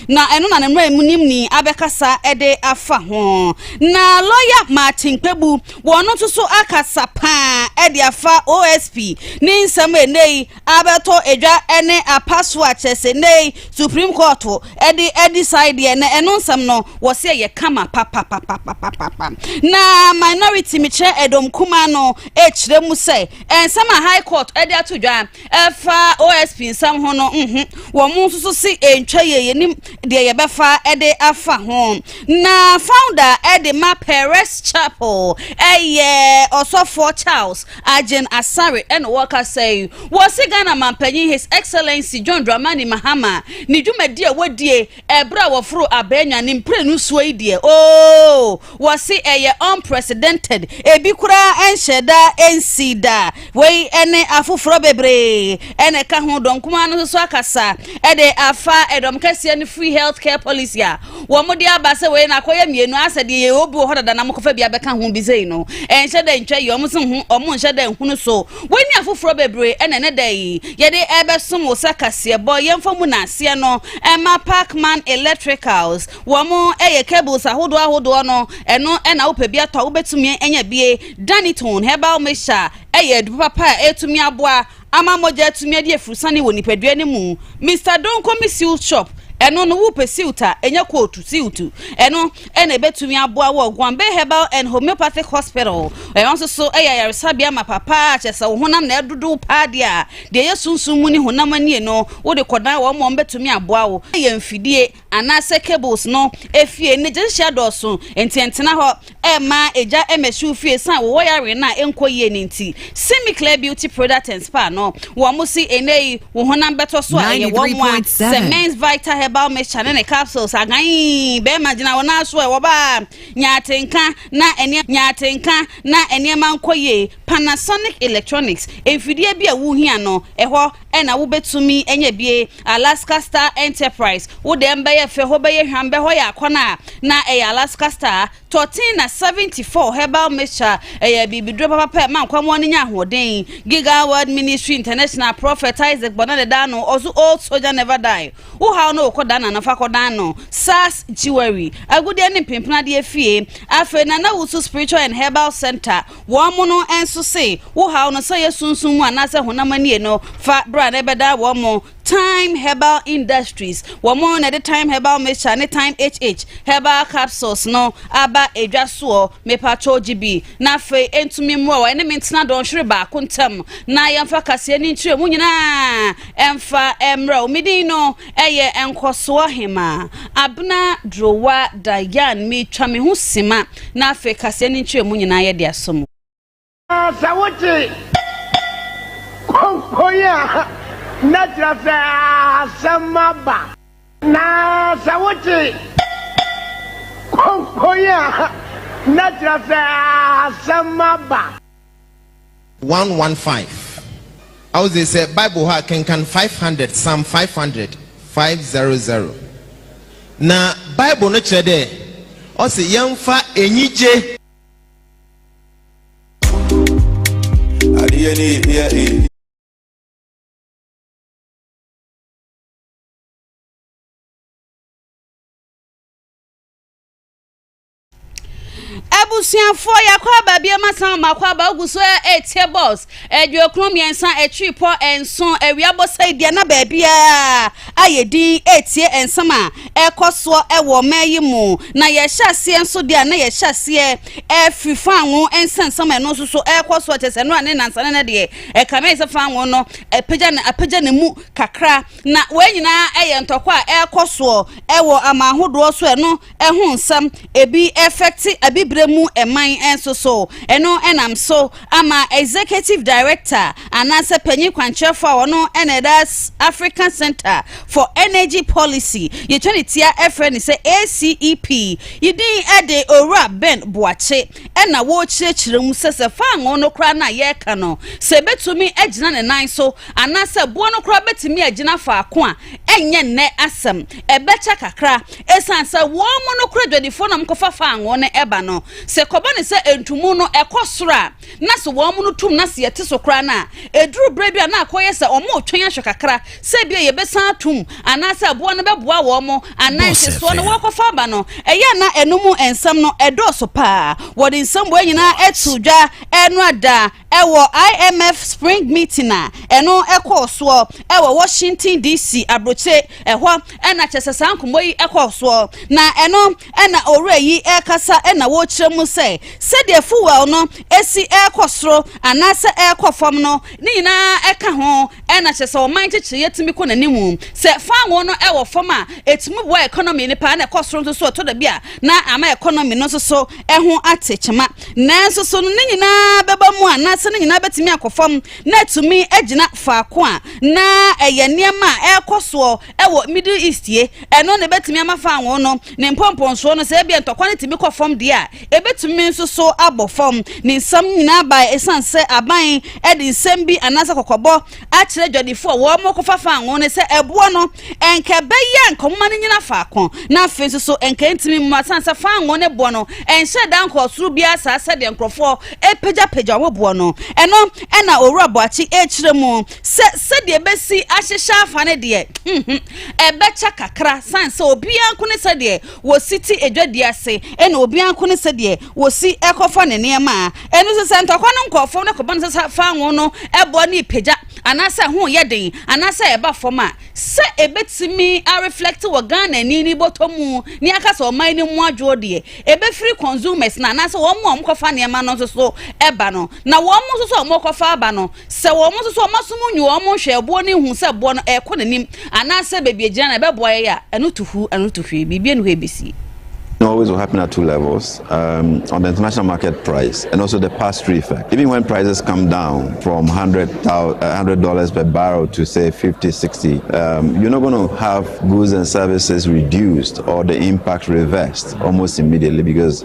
na ɛno na ne mmaramunimni abɛkasa de afa ho. Na lɔya Martin Kpebu, wɔn nso so akasa paa de afa OSP ne nsɛm a ɛnɛ yi abɛtɔ adwa ne apa so a kyerɛ sɛ ɛnɛ yi Supreme Court de adeside deɛ na ɛno nsɛm no wɔsɛ yɛ kama papapapapapa. Na minority mekyerɛ ɛdɔm kumaa no ɛkyerɛ mu sɛ nsɛm a High Court de ato dwa Ɛfa OSP nsɛm ho no, nhu wɔn nso so se ɛntwa yie, yɛnim deɛ yɛbɛfa de afa ho. Na founder de ma Perez Chapel yɛ Ɔsɔfoɔ Charles Agyen Asare na wɔkasa yi. Wɔse Ghana Manpanyin His Excellency John Dramani Mahama ne dwumadie a wɔdie Ɛberɛ a wɔforo abɛɛnya no mprenu soɔ yi deɛ ooh wɔse ɛyɛ unprecedented, ebi koraa ɛnhyɛɛ da ɛnsii da. Wei ɛne afoforɔ bebree na ɛka ho. Dɔn Kumaa no nso so akasa ɛde afa ɛdɔm kɛseɛ no free health care policy a wɔde aba sɛ wei no akɔyɛ mmienu asɛ deɛ yɛwɔ bi wɔ hɔ dada na mokɔfa bi abɛka ho bi sei no ɛnhyɛ da ntwa yie, wɔn nso ho wɔn nhyɛ da nhunu so. Wei ne afoforɔ bebree na ɛnɛ da yi yɛde rebɛsom wo sɛ kaseɛbɔ. Yɛmfa mu naaseɛ no mma Parkman Electricals. Wɔn yɛ cables ahodoɔ ahodoɔ no, ɛno na wopɛ bi atɔ a wobɛtumi anya bie. Danitone herbal mixture yɛ aduro papa a ɛtumi aboa ama mogya atumi adi afurusane wɔ nipadua no mu. Mister Donko me silt shop, ɛno no wopɛ silt a ɛnyɛ kootu silt, ɛno. na ebetumi aboa wɔ Gombe Herbal and Homeopathic Hospital. Ɛno nso so yɛ ayaresabea ma papa a kyerɛ sɛ wo honam na ɛdodow paa deɛ a, deɛ ɛyɛ sunsum mu ne honam anie no, wode kɔdan wɔn ma wɔbɛtumi aboa wo. Yɛ mfidie anaasɛ cables no efie ne gyehyeɛ dɔɔso nti ɛntena hɔ mma egya mmɛhyew fie ɛsiane wowɔ yareɛ no a ɛnkɔ yie no nti. Simiclear Beauty Product and Spa no wɔn si ɛnɛ yi wo honam bɛtɔ so a ɛyɛ wɔn a sɛ men's vital herbal mixture ne ne capsules agan bɛrima gyina wɔn aso ɛ wɔbaa nyaatenka na ɛnneɛ nyaatenka na ɛnneɛma nkɔ yie Panasonic electronics mfidie bi a wohia no ɛhɔ ɛna wobɛtumi ɛnyɛ bie Alaska Star Enterprise wo deɛ mbɛyɛ fɛ hɔ bɛyɛ hwam bɛhɔ yɛ akɔnɔ a na ɛyɛ Alaska Star Tortina 74 herbal mixture yɛ bibiduro papa pɛ ma nkwammoa no nya ahoɔden. Giga World Ministry International Prophet Isaac Bɔna de daa no ɔso Old Soldier Never Die, Wo haw no wokɔ dan ano fa kɔdan no, SARS Jewelry, Agudeɛ ne Mpempenadeɛ Fie, afei Nana Wusu Spiritual and Herbal Centre, wɔn mono nso se, Wo haw no sɛ ɔyɛ sunsum mu anaasɛ honam anie no, fa bra na ɛbɛdan wɔn mo. Thyme Herbal Industries, wɔn na ɛde Thyme Herbal Mixture ne Thyme HH Herbal Capsules no aba edwa soɔ, mepatwɔ gye bi na afei ɛntumi mmoa wo ɛne me ntena dɔnhwere baako ntam na yɛmfa kaseɛ ne nkyerɛmu nyinaa mfa mmrɛ wo. Me din no yɛ Nkɔsoɔ Hemaa Abena Durowa Dayan, metwa me ho sima na afei kaseɛ ne nkyerɛmu nyinaa yɛde asɔ mu. Sɛ wote konkon a, na kyerɛ sɛ asɛm aba. Na sɛ wote konkon a, na kyerɛ sɛ asɛm aba. One one five Awodze sɛ Bible hɔ a, kenkan five hundred, Psalm five hundred, five zero zero. Na Bible no kyerɛ dɛ ɔse yɛmfa enyigye. Adeɛ ne ebia e. abusuafoɔ yɛakɔ aba biom asan ɔmo akɔ aba wogu so ɛretie bɔs Aduokron mmiɛnsa akyirepɔ nson awia bɔsɛe deɛ na baabiara ayɛ din retie nsɛm a ɛrekɔ soɔ wɔ ɔman yi mu. Na yɛhyɛ aseɛ nso deɛ a na yɛhyɛ aseɛ afiri fanwo nsɛnsɛm a ɛno nso so ɛrekɔ soɔ kyɛ sɛ ɛno a ne nansa no na deɛ ɛkame sɛ fanwo no apagya ne apagya ne mu kakra. Na wei nyinaa yɛ ntɔkwa a ɛrekɔ soɔ wɔ aman ahodoɔ so ɛno ɛho nsɛm ebi affect abibire mu man nso so. Ɛno nam so ama Executive Director anaasɛ panyin kwankyerɛfo a ɔno na ɛda African Centre for Energy Policy, yɛtwa ne tia frɛ no sɛ ACEP, yi din de Owura Ben Boakye na wɔrekyerɛkyerɛ mu sɛ sɛ fangoo no koraa no a yɛreka no, sɛ ebetumi agyina ne nan so anaasɛ boɔ no koraa betumi agyina faako a ɛnyɛ nnɛ asɛm, ɛbɛkyɛ kakra, ɛsiane sɛ wɔn mu nokorɛ dwadifoɔ na wɔkɔfa faa ngo no ɛba no, sɛ ɛkɔba no sɛ ntumu no ɛkɔ soro a, na sɛ wɔn mu no tum na sɛ yɛte so koraa no a, ɛduru berɛ bi a na akɔyɛ sɛ wɔretwɛn ahwɛ kakra sɛ ebia yɛbɛsan atum anaasɛ aboa no bɛboa wɔn anaa nhyɛsoɔ no wɔrekɔfa aba no, ɛyɛ a na ɛno mu nsɛm no ɛdɔɔso paa, wɔde nsɛm wei nyinaa ɛtoo dwa ɛno ada. Wɔ IMF Spring Meeting a ɛno kɔɔ soɔ wɔ Washington DC abrokyire ɛhɔ na kyerɛ sɛ saa nkɔmmɔ yi kɔɔ soɔ na ɛno na owura yi rekasa na ɔrekyerɛ mu sɛ sɛdeɛ fuel no si rekɔ soro anaasɛ ɛrekɔ fam no ne nyinaa ka ho na kyerɛ sɛ ɔman nkyekyereɛ tumi kɔ n'anim sɛ fango no wɔ fam a ɛtumi boa economy no paa na ɛkɔ soro nso so ɛtɔ da bi a na ama economy no nso so ho ate kyema. Nanso, so ne nyinaa bɛba mu anaasɛ ne nyinaa bɛtumi akɔ fam na atumi agyina faako a na ɛyɛ nneɛma a ɛrekɔ soɔ wɔ Middle East yi? Ɛno na ɛbɛtumi ama faawon no ne mpɔmpɔnsoɔ no, sɛ ebia ntɔkwa no tumi kɔ fam deɛ a, ɛbɛtumi nso so abɔ fam. Ne nsɛm no nyinaa baeɛ ɛsiane sɛ aban de nsɛm bi anaasɛ kɔkɔbɔ akyerɛ adwadifo a wɔrekɔfa fangoo no sɛ ɛboɔ no nka ɛbɛyɛ a nka wɔma no nyina faako na afei nso so nka ɛntumi mmu asan sɛ fangoo ne boɔ no ɛnhyɛ da nkɔɔ soro biara saa sɛdeɛ nkurɔfoɔ ɛpagyapagya wɔn boɔ no ɛno ɛna owura boakye ɛkyerɛ mu sɛ sɛdeɛ ɛbɛsi ahyehyɛ afa no deɛ ɛbɛkyɛ kakra san sɛ obiara nko ne sɛdeɛ wɔsi te adwadi ase ɛna obiara nko ne sɛdeɛ wɔsi ɛkɔfa ne nneɛma a Ɛno nso, sɛ ntɔkwa no nkɔɔ fam na kɔba no sɛ sa fa ngo no boa no repagya anaasɛ ɛho reyɛ den anaasɛ ɛba fam a, sɛ ɛbɛtumi areflɛkte wɔ Ghana ani ne bɔtɔ mu ne aka sɛ ɔman no mu adwoɔ deɛ, ɛbɛfiri consumers no anaasɛ wɔn a wɔkɔfa nneɛma no nso so ba no. Na wɔn nso so a wɔkɔfa aba no, Sɛ wɔn nso so wɔasom nyi wɔn nhwɛ ɛboɔ no hu sɛ boɔ no ɛrekɔ n'anim anaasɛ baabi agyina no ɛbɛboa yɛn a, ɛno to hu, ɛno to hwee, biribi ani hɔ ɛbɛsie. It always will happen at two levels, um, on the international market price and also the pass-through effect. Even when prices come down from $100 uh, per barrel to say 50, 60, um, you're not going to have goods and services reduced or the impact reversed almost immediately because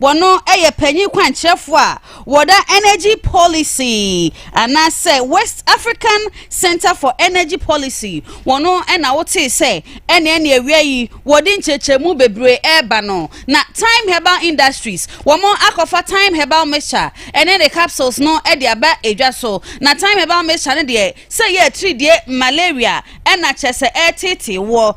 Wɔno yɛ panyin kwankyerɛfoɔ a wɔda Energy Policy anaasɛ West African Centre for Energy Policy wɔno na wotee sɛ ɛneɛ ne awia yi wɔde nkyerɛkyerɛmu bebree ɛreba no na Time Herbal Industries wɔn akɔfa Time Herbal Mixture ɛne ne capsules no de aba edwa so na Time Herbal Mixture no deɛ sɛ yɛ atiridie malaria ɛna kyerɛ sɛ ɛreteetee woɔ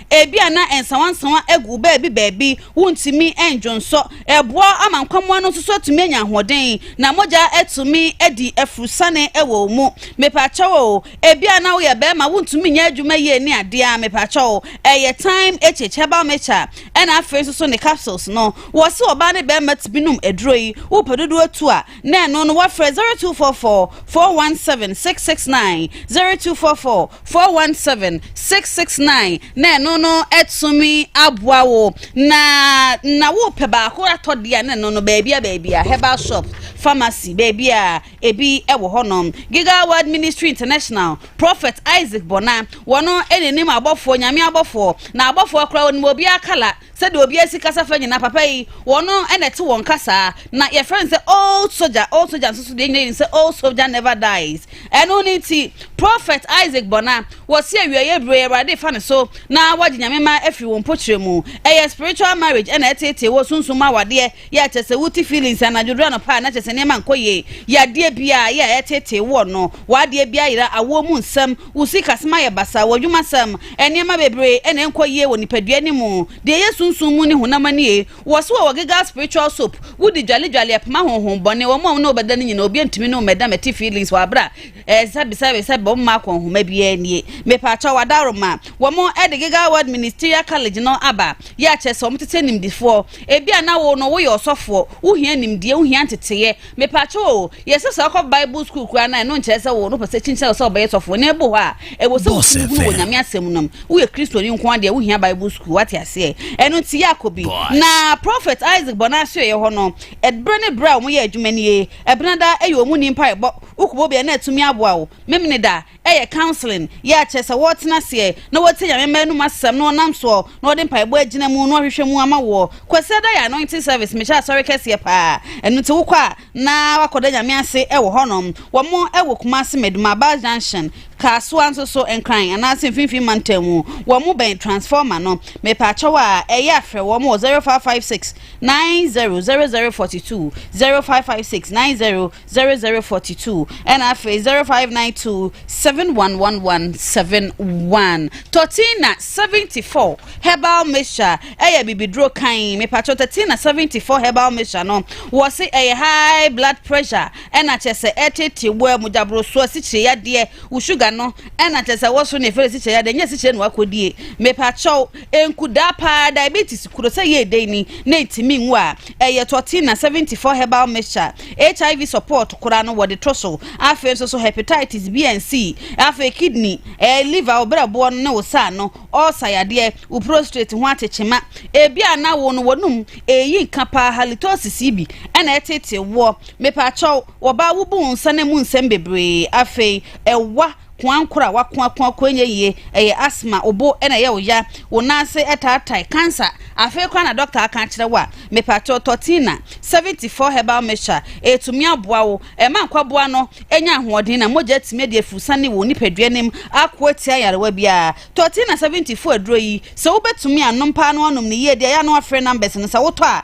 Ebia na nsawansawa agu baabi baabi, wontumi ndwonsɔ. Ɛboa ma nkwammoa no nso so atumi anya ahoɔden, na mogya atumi adi afurusane wɔ wɔn mu. Mepakyɛw o, ebia na woyɛ barima, wontumi nyɛ adwuma yie ne adeɛ a, mepakyɛw o, ɛyɛ time achic, herbal mixture, ɛna afei nso so ne capsules no. Wɔse ɔbaa ne barima tumi nom aduro yi, wopɛ dodoɔ tu a, na ɛno no wafrɛ 0244 417 669 0244 417 669 na ɛno no atumi aboa wo na na wopɛ baako atɔ deɛ na ɛno no baabi a baabi a herbal shop pharmacy baabi a ebi wɔ hɔ nom giga world ministry international prophet isaac bɔna wɔn ɛnanim abɔfoɔ nyame abɔfoɔ na abɔfoɔ koraa wɔn mu obiara kala Sɛdeɛ obiara si kasa fa nyinaa, papa yi, wɔn na ɛte wɔn kasaa. Na yɛfrɛ no sɛ Old Soja. Old Soja nso so deɛ nyina yɛnim sɛ Old Soja Never Dies. Ɛno ne nti, Prɔfɛt Isaac Bɔna, wɔse awieeɛ berɛ yi, Awurade refa ne so na wagye Nyame mma afiri wɔn mpokyerɛ mu. Ɛyɛ spiritual marriage na ɛteetee wɔ sunsum mu awadeɛ Yɛ kyerɛ sɛ wote feelings anadwo duru anɔpa a na kyerɛ sɛ nneɛma nkɔ yie. Yɛ adeɛ biara, yɛ a ɛtetee woɔ no. W'adeɛ biara yera, awoɔ mu nsɛm, wo sikasɛm ayɛ basaa, w'adwumasɛm, nneɛma bebree na ɛnkɔ yie wɔ nipadua no mu. Deɛ ɛyɛ sunsum mu ne honam mu nie. Wɔ se wɔ wɔ gegal spiritual soap, wo di dwale dwale ɛpema honhom bɔne, wɔn a wo ne wo bɛda no nyinaa obia ntumi ne wo mmɛda mɛte feelings wɔ aberɛ a ɛsa bisa bisa bɔ mma akɔ nhoma biara nie. Mepakyɛw adawroma, wɔn ɛde gegal word ministerial college no aba. Yɛ kyerɛ sɛ wɔn tete animdifoɔ. Ebia na wo no woyɛ ɔsɔfoɔ, wohia nimdeɛ, wohia nteteeɛ. Mepakyɛw o, yɛ sɛ sɛ wokɔ Bible School koraa no a, ɛno nkyerɛ sɛ wo no pɛsɛ kyinkyin wo sɛ wobɛyɛ sɔfoɔ. Na ebu hɔ a, ɛwɔ sɛ wotumi hunu wɔ Nyame Asɛm no mu. Woyɛ Kristoni nko ara deɛ wohia Bible School, woate aseɛ? Ɛno nti yɛ akɔ bi. Na Prophet Isaac bɔ n'asoɛeɛ hɔ no, ɛberɛ ne berɛ a wɔyɛ adwuma nie. Ɛbenada yɛ wɔn ni mpaebɔ. Wokɔbɔ bi a na atumi aboa wo. Memeneda, yɛ counselling yɛ a kyerɛ sɛ wɔtena aseɛ na wɔtie Nyame mma anum asɛm na wɔnam soɔ na wɔde mpaebɔ agyina mu na wɔahwehwɛ mu ama woɔ. Kwasiada yɛ anointing service mehyɛ asɔre kɛseɛ paa ɛno nti wokɔ a na wakɔda Nyame ase wɔ hɔ nom. Wɔ mo wɔ Kumasi Meduma bus junction, Kasoa nso so Nkran anaase mfimfini mantam mu wɔ mo bɛn transformer no mepaakyɛw a ɛyɛ a frɛ wɔn wɔ 0556 900042 0556 9000. zero zero forty two ɛna afei zero five nine two seven one one one seven one tortina seventy four herbal mixture ɛyɛ bibiduro kan mipatro tortina seventy four herbal mixture no wɔsi ɛyɛ high blood pressure ɛna kyɛ sɛ ɛtete wɔ ɛmugyaburo so asikyire yadeɛ wɔ sugar no ɛna kyɛ sɛ wɔso na efere asikyire yadeɛ nyɛ asikyire na wakɔdie mipatro. Enku daa paa diabetes kuro sɛ yɛ dɛn ni na entumi nwu a, ɛyɛ Tortina seventy four herbal mixture, HIV support koraa no wɔde to so, afei nso so hepatitis B and C, afei kidney, ɛɛ liver, wo brɛboɔ no ne wo sa ano, ulcer yadeɛ, wo prostrate ho atekyema, ebi a na wo no wɔnum, eyi nka paa halitosis yi bi ɛna ɛteetee woɔ, mepakyɛw, wɔba wo bu wo nsa na mu nsɛm bebree, afei ɛwa Koankor a wɔakoa koakoa nnyɛ yie, ɛyɛ asthma, wo bo na ɛyɛ wo ya, wo nan ase taatae, cancer, afei koraa na dɔkta aka akyerɛ wo a, mepakyɛw tɔ Tina seventy four herbal mixture, ɛretumi aboa wo, ɛma nkwaboa no nya ahoɔden na mogya atumi adi afurusiane wɔ wo nipadua no mu ako atia nyarewa biara. Tɔ Tina seventy four aduro yi, sɛ wobɛtumi a nom paa na woanom no yie de a yɛ a na woafrɛ numbers no, sɛ wotɔ a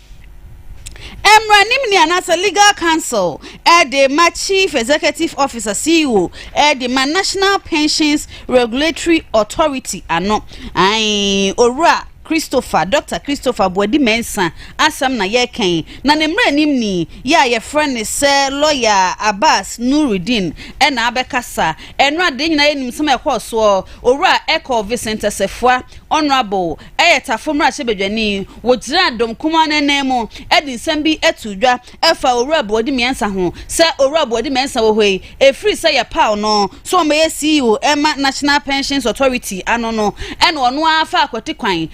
Mmaranim ni anaasɛ Legal Counsel de ma Chief Executive Officer, CEO, de ma National Pensions Regulatory Authority ano. Ae, Owura Christopher, Dɔkta Christopher Boadi Mensah asɛm na yɛrekɛn, na ne mmaranim ni yi a yɛfrɛ no sɛ Lɔya Abbas Nuruddin na abɛkasa. Ɛno a, deɛ yɛn nyinaa yɛnim nsɛm a ɛkɔɔ soɔ, Owura Ecole Vincent Assefuah, Honourable, yɛ Tafo mmarahyɛbadwani. Wogyinaa dɔm kumaa no ananmu de nsɛm bi too dwa faa Owura Boadi-Mensah ho sɛ Owura Boadi-Mensah wɔ hɔ yi, ɛfiri sɛ yɛpaw no sɛ ɔmmɛyɛ CEO mma National Pensions Authority ano no, ɛna ɔno ara faa akwati kwan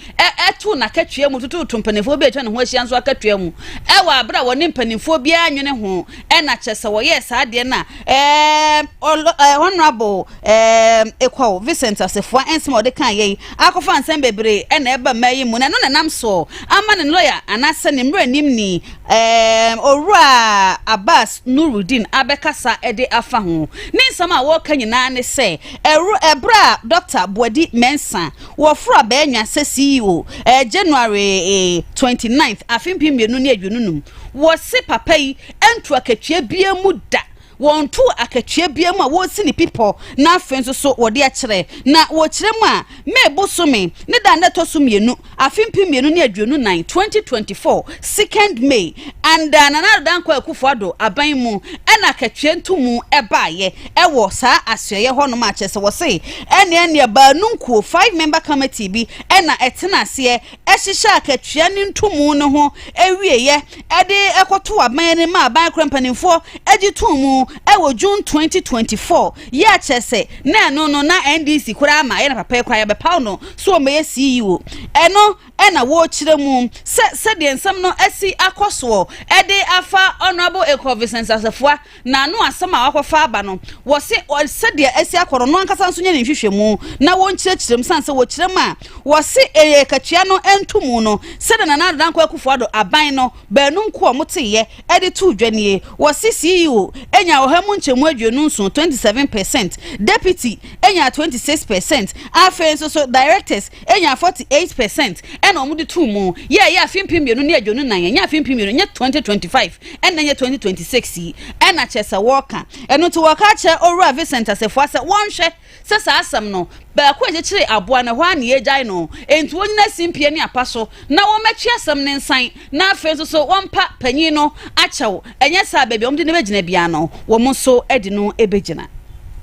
too n'akatua mu tototoo mpanimfoɔ bi a atwa ne ho ahyia nso akatua mu wɔ bere a wɔne mpanimfoɔ biara nnwene ho ɛna kyerɛ sɛ wɔyɛɛ saa adeɛ no a ɛɛ ɛɛ honourable ɛɛ ekwaw vincent asefua nsɛm a ɔde kan yɛ yi akɔfa nsɛm bebree ɛna ɛba mmaa yi mu na ɛno na ɛnam soɔ ama ne lɔya anaasɛ ne mmerɛ nim ni ɛɛ owura abbas nurudin abɛkasa ɛde afa ho ne nsɛm a wɔreka nyinaa ne sɛ ɛwuro ɛbrɛ a dɔkta boadi mɛnsa wɔforo abɛɛnwa sɛ ceo ɛɛ january 29th afe mpem mmienu ne aduonu num Wɔse papa yi ntu akatua biaa mu da. Wɔntu akatua biaa mu a wɔsi ne pipɔ na afei nso so wɔde akyerɛ. Na wɔkyerɛ mu a, May bosome ne da a na ɛtɔ so mmienu, afe mpem mmienu ne aduonu nan, 2024, Second May, under Nana Addo Dankwa Akufo Addo aban mu na akatua ntumu baeɛ ɛwɔ saa asoɛeɛ hɔ nom a kyerɛ sɛ wɔse ɛneɛ neɛ baanunkuo, five member committee, bi na ɛtena aseɛ hyehyɛ akatua ne ntomu no ho awieeɛ de kɔtoo aban anim ma aban korɔ mpanimfoɔ gye too mu wɔ June 2024 yɛ a kyerɛ sɛ na ɛno no na NDC koraa ma yɛ na papa yi koraa yɛbɛpaw no sɛ ɔmmɛyɛ CEO. Ɛno na wɔkyerɛ mu sɛ sɛdeɛ nsɛm no asi akɔ soɔ de afa Honourable Ekor Vincent Asafua Na ano asɛm a wɔakɔfa aba no, wɔse sɛdeɛ asi akɔ no, ɔno ankasa nso nyɛ ne nhwehwɛmu na wɔnkyerɛkyerɛ mu, sane sɛ wɔkyerɛ mu a, wɔse ɛyɛ akatua no nto mu no, sɛdeɛ Nana Addo Dankwa Akufo-Addo aban no baanu nko a wɔteeɛ de too dwa nie. Wɔse CEO nyaa ɔha mu nkyɛmu aduonu nson, 27 percent, Deputy nyaa 26 percent, afei nso so Directors Enya forty eight per cent ɛna ɔmo de too mu yɛ ɛyɛ afe mpem mmienu ne aduonu nnan ɛnyɛ afe mpem mmienu ɛnyɛ twenty twenty five ɛna ɛnyɛ twenty twenty six yi ɛna kyerɛ sɛ wɔɔka ɛno nti wɔɔka akyerɛ owura Vincent Asafua sɛ wɔnhwɛ sɛ saa asɛm no baako a ɛkyekyere aboa no ɛhɔ ara na yɛɛgyae no ɛnti wɔnyina simpie ne apa so na wɔmɛtwe asɛm no nsan na afei nso so wɔmpa panyin no akyɛw, ɛnyɛ saa a baabi a wɔde no bɛgyina biara no, wɔn nso de no bɛgyina.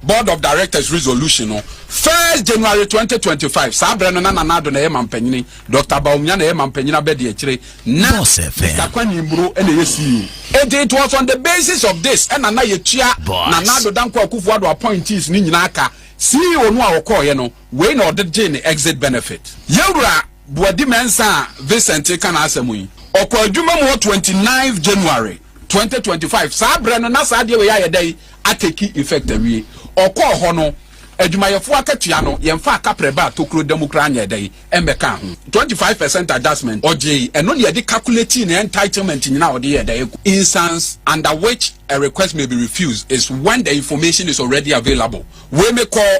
Board of Directors Resolution no, First January twenty twenty five, saa berɛ no na Nana Addo na ɛyɛ mampanyini, Doctor Bawumia na ɛyɛ mampanyini abɛdiakyire, na Mister Kwani Mburo na ɛyɛ CEO. Enti it was on the basis of this ɛna na yɛtua Nana Addo Dankwa Akufo-Addo appointees no nyinaa ka, CEO no a ɔkɔeɛ no, Wei na ɔde gyee ne exit benefit. Yɛn Wura Boadi Mensah a Vincent reka n'asɛm yi, ɔkɔɔ adwuma mu wɔ twenty ninth January, twenty twenty five. Saa berɛ no, na saa adeɛ wei ayɛ dɛn? Atake effect awie. Ɔkɔɔ hɔ no, adwumayɛfoɔ akatua no, yɛmfaa kaprɛ baa tokuro da mu koraa nyɛɛ dɛn? Ɛmmɛkaa ho. Twenty five percent adjustment, ɔgyee. Ɛno na yɛde calculatii ne entitlement nyinaa a ɔde yɛɛ dɛn? Ɛgu. Instance under which a request may be refused is when the information is already available. Wei mekɔɔ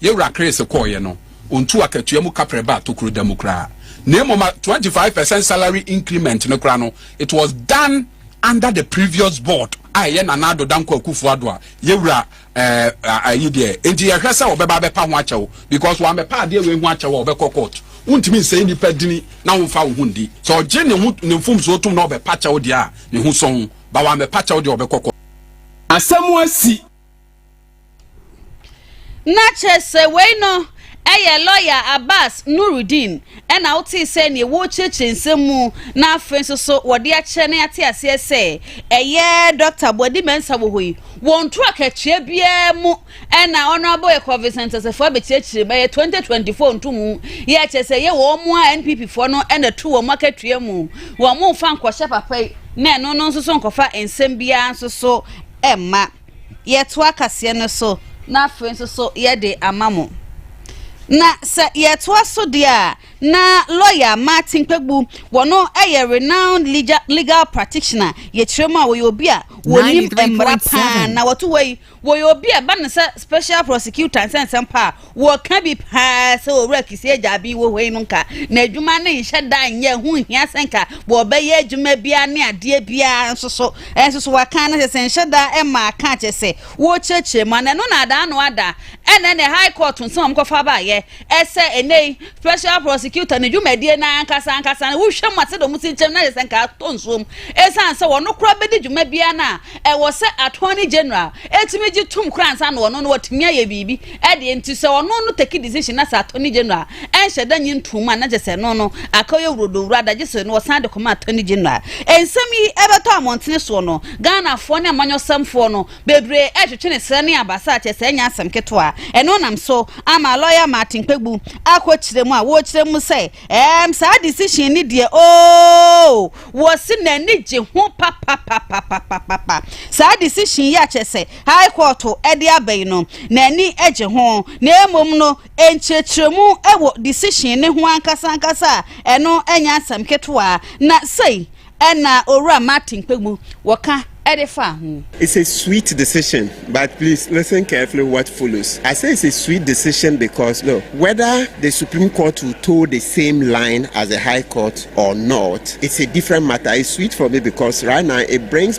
Yɛ wura Chris kɔɔeɛ no, ɔntuu akatua mu kaprɛ baa tokuro da mu koraa. Na mmom a twenty five percent salary increment no koraa no, it was done under the previous board a ɛyɛ Nana Addo Dankwa Akufo Addo a yɛ wura ɛɛ ayi deɛ. Enti yɛhwɛ sɛ ɔbɛba abɛpa ho akyɛw because wammɛpa adeɛ wei ho akyɛw a ɔbɛkɔ court. Wontumi nsɛe nnipa dini na womfa wo ho ndi. Sɛ ɔgye ne ho ne mfomsoɔ tom na ɔbɛpa kyɛw deɛ a, ne ho sɔn. But wammɛpa kyɛw deɛ a ɔbɛkɔ court. Asɛm asi. Na kyerɛ sɛ wei no yɛ lɔya Abass Nurudeen na wotee sɛ neɛ wɔrekyerɛkyerɛ nsɛm mu na afei nso so wɔde akyerɛ na yɛate aseɛ sɛ ɛyɛ Dɔkta Boadi Mensah wɔ hɔ yi, wɔ ntoro akatua biara mu na Honourable Yɛkɔɔ Vincent Asafo abɛkyerɛkyerɛ mu, ɛyɛ 2024 ntomu yɛ kyerɛ sɛ ɛyɛ wɔn mu a NPP foɔ no na ɛto wɔn akatua mu, wɔn mfa nkɔhyɛ papa yi na ɛno no nso so nkɔfa nsɛm biara nso so mma. yɛtoa kaseɛ no so na afei nso so yɛde ama mo. Na sɛ yɛtoa so deɛ a, na lɔya Martin Kpegbu, wɔno yɛ renowned legal, legal practitioner, yɛkyerɛ mu a wɔyɛ obi a wɔnim mmara paa, na wɔto hɔ yi wɔyɛ obi a ɛba no sɛ special prosecutor nsɛnsɛm paa Wɔka bi paa sɛ Owura Kisi agya Abi wɔ hɔ yi no nka n'adwuma no nhyɛ da nyɛ, ɛho nhia sɛ nka wɔbɛyɛ adwuma biara ne adeɛ biara nso so. Nso so wɔka no sɛ sɛ nhyɛ da mma aka akyɛ sɛ wɔrekyerɛkyerɛ mu ana ɛno na ada ano ada. Ɛna ɛnɛ High Court nsɛm a wɔkɔfa baeɛ ɛsɛ ɛnɛ yi Special Prosecutor ne dwumadie no ankasa ankasa no wohwɛ mu a sɛdeɛ wɔsi kyerɛ mu no ayɛ sɛ nka atɔ nsuo mu ɛsiane sɛ wɔn koraa bɛdi dwuma biara no a ɛwɔ sɛ Attorney General ɛtumi gye tom koraa ansa na wɔn no wɔatumi ayɛ biribi Ɛdeɛ nti sɛ ɔno no take decision na sɛ attorney general a, ɛnhyɛ da nyi ntoom a na kyerɛ sɛ ɛno no aka ɔyɛ wurodowura da gye sɛ no ɔsan de kɔma attorney general. Nsɛm yi ɛbɛtɔ amɔntene soɔ no, Ghanafoɔ ne amanyɔsɛmfoɔ no bebree ɛretwetwe ne serɛ ne abasa kyerɛ sɛ ɛnyɛ asɛm ketewa. Ɛno nam so ama lawyer Martin Kpebu akɔ kyerɛ mu a wɔrekyerɛ mu sɛ ɛɛm saa decision no deɛ ooh wɔse n'ani gye ho papapapapapapa saa decision yi a kyerɛ sɛ High Court de aba yi no, n'ani gye ho, na mmom no, nkyerɛkyerɛmu wɔ decision no ho ankasa ankasa a ɛno nyɛ asɛm ketewa, na sei na Owura Martin Kpegbu wɔ ka de faa ho. It's a sweet decision but please listen carefully what follows. I say it's a sweet decision because look, whether the Supreme Court will toe the same line as the High Court or not, it's a different matter. It's sweet for me because right now it brings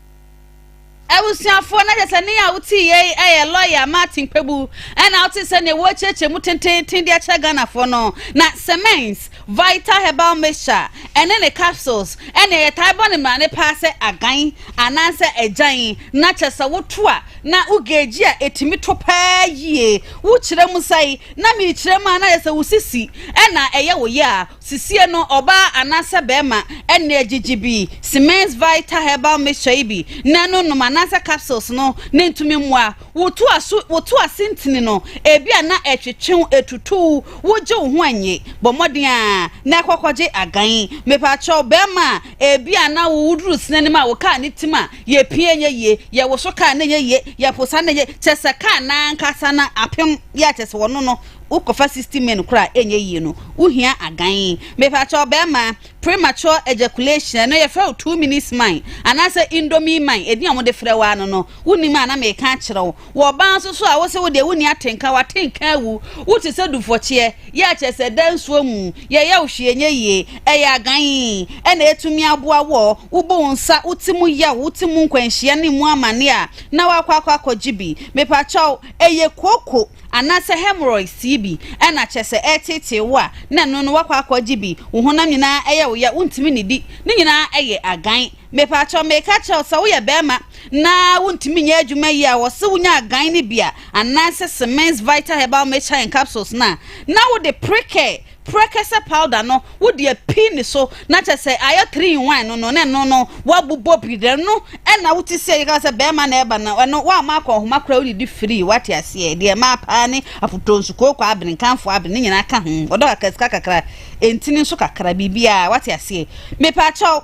Abusuafoɔ, na gyesani a wote yei yɛ lɔya Martin Kpebu na wote sɛdeɛ wɔrekyerɛkyerɛ mu tenteenten de akyerɛ Ghanafoɔ no. Na Semence Vita Herbal Mixture ɛne ne capsules ɛneɛ yɛtae bɔ ne mmarane paa sɛ agan anaasɛ agyan na kyɛsɛ woto a na wo geegye a ɛtumi to paa yie. Wokyerɛ mu sɛe na mekyerɛ mu a na kyɛsɛ wo sisi na ɛyɛ wo ya a Sisie no, ɔbaa anaasɛ barima na ɛgyegye bi, Siemens Vita Herbal Mixture yi bi na ɛno nom anaasɛ capsules no ne ntumi mmoa. Wotu aso, wotu ase ntini no, ebia na ɛtwetwe wo, etutu wo, wogye wo ho nnye. Bɔ mmɔden ara na kɔkɔgye agan. Mepakyɛw, barima a ebia na wo wuduru sini anim a wo kaa ne tim a, yɛpia ɛnyɛ yie, yɛwoso kaa no ɛnyɛ yie, yɛpo saa no ɛnyɛ, kyerɛ sɛ kaa no ankasa no apem yɛ kyerɛ sɛ ɔno no. wo kɔ fa sixty men kora a ɛnyɛ yie no wo hia agan me pa kyɛw bɛɛma premature ejaculation ɛno yɛ frɛ wo two minutes man anaa sɛ indomie man ɛdin a wɔde frɛ waa no no wo nim a na me ka kyerɛ wo wɔ ɔbaa nso so a wo se wo deɛ wo ni atenka wa tenka awu wo te sɛ dufɔkyeɛ yɛ akyɛ sɛ da nsuo mu yɛ yɛ wo hwee nyɛ yie ɛyɛ agan ɛna ɛtumi aboa wɔ wo bo wo nsa wo ti mu yɛ wo ti mu nkwanhyia ne mu amane a na wakɔ akɔ akɔ gye bi me pa kyɛw ɛyɛ koko Anaasɛ hemorrhoids sii bi na kyɛsɛ ɛreteetee wo a na ɛno no woakɔ akɔ agye bi, wo honam nyinaa yɛ wo ya, wontumi nnidi, ne nyinaa yɛ agan. Mepakyɛw meka akyerɛ wo sɛ woyɛ bɛɛma na wontumi nyɛ adwuma yie a wɔse wonya agan no bi a, anaasɛ Simmens Vita Herbal Mixture and Capsules no a na wode prekɛ Prekese powder no wo de api ne so na kyɛ sɛ ayɛ three in one no no ne no no wabobɔ bi dɛ no ɛna wo te sɛ yɛka sɛ bɛrima na ɛba no ɛno woama akɔ ɔhoma koraa wode di free wate aseɛ deɛ ɛmaa paa ne apotonsu kooko abene nkanfo abene ne nyinaa ka ho ɔdɔ kakra sika kakra ntini nso kakra biribiaa wate aseɛ mepaakyɛw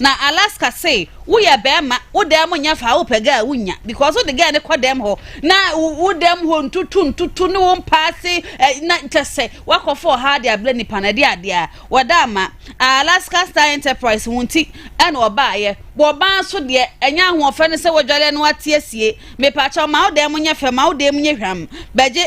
Na Alaska se wo yɛ bɛɛma wo dɛm mo nyɛ faa wo pɛ gɛɛ wo nya because wo de gɛɛ ne kɔ dɛm hɔ na wo dɛm hɔ ntutu ntutu ne wo mpaase eh, na kyɛsɛ wakɔ fɔ ha de ablɛ nipa na ɛde adea wɔ da ama Alaska Star Enterprise ho nti ɛna ɔbaa yɛ wɔ baa so deɛ ɛnyɛ ahoɔfɛ ne sɛ wɔdware no ate asie mepakyɛ ɔma wo dɛm mo nyɛ fɛ ma wo dɛm nyɛ hwam bɛgye